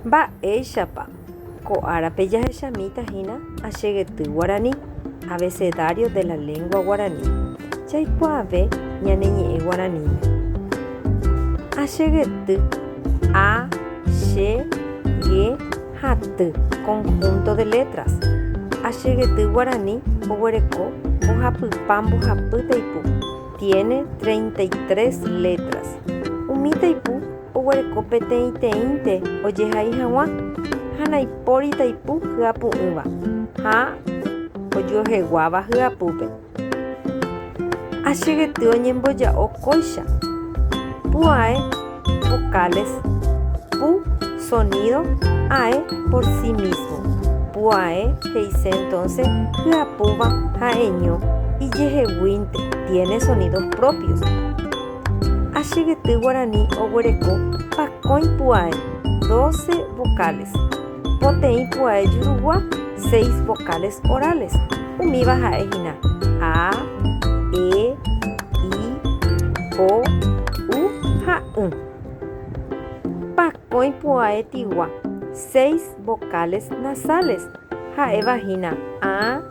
Mba'éichapa ko árape jahechamíta hína Achegety Guarani, Abecedario de la Lengua Guarani, jaikuaave ñane ñe'ẽ guaraníme. Achegety, a, che, ge ha ty, conjunto de letras. Achegety Guarani oguereko mbohapypa mbohapy taipu, tiene treinta y tres letras. Umi taipu oguereko peteĩteĩnte ojehai hag̃ua ha naipóri itaipu hyapu'ỹva ha ojueheguáva hyapúpe. Achegety oñemboja'o kóicha, pu'ae vocales, pu, sonido, ae, por sí mismo, pu'ae he'ise entonce hyapúva ha'eño ijeheguínte, tiene sonidos propios. A Chyvyty guarani oguereko pakõi pu'ae, doce vocales, poteĩ pu'ae jurugua, seis vocales orales, umíva ha'e hína, a, e, i, o, u ha y. Pakõi pu'ae tigua, seis vocales nasales, ha'éva hína, a,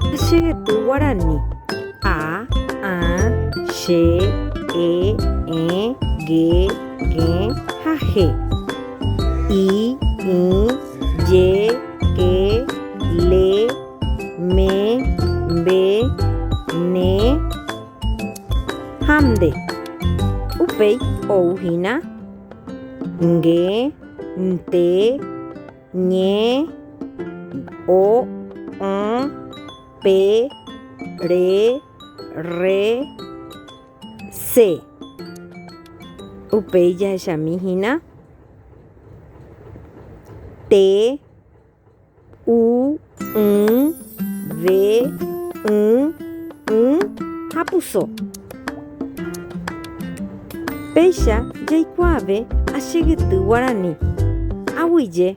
Che ypy guarani. A, ã, che, e, ẽ, ge, gẽ ha je. I, ĩ, je, ke, le, me, mbe, ne ha nde. Upéi ou hína nge, nte, Ñe, o, õ, pe, re, rre, se. Upéi jahechami hína te, u. Un, ve, un, un ha puso. Péicha jaikuaave achegyty guarani. Aguyje.